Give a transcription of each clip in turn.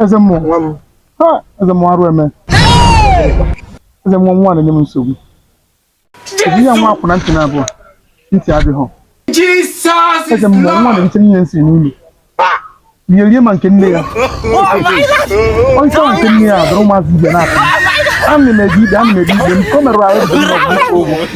eze mmụọ nwa m ha eze mmụọ arụ eme eze mmụọ nwa na-enye m nsogbu ezi ya nwa akwụna ntị na-abụọ ntị adịghị eze mmụọ nwa na-erite ihe nsị n'ụlọ ihe rie ma nke nne ya onye ahụ nke nne ya dụrụ ụmụazị ibe na-akpa ana m ebi ibe ana m ebi ibe m ka o merụrụ ahụ bụ ụgwọ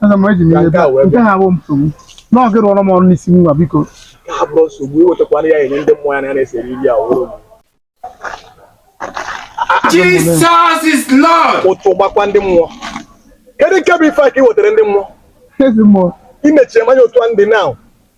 Aga m eji m ihe bịa. Nke ha bụ nsogbu. Nọọ gị rụọrọ m ọrụ n'isi nwa biko. Ka ha bụrụ nsogbu iwetakwana ya enye ndị mmụọ ya na ya na-esere iri ya wụrụ Jesus is Lord. ụtụ gbakwa ndị mmụọ kedu nke bụ ife a ka ị wetara ndị mmụọ Eze mmụọ. i nechie m anya otu a ndị na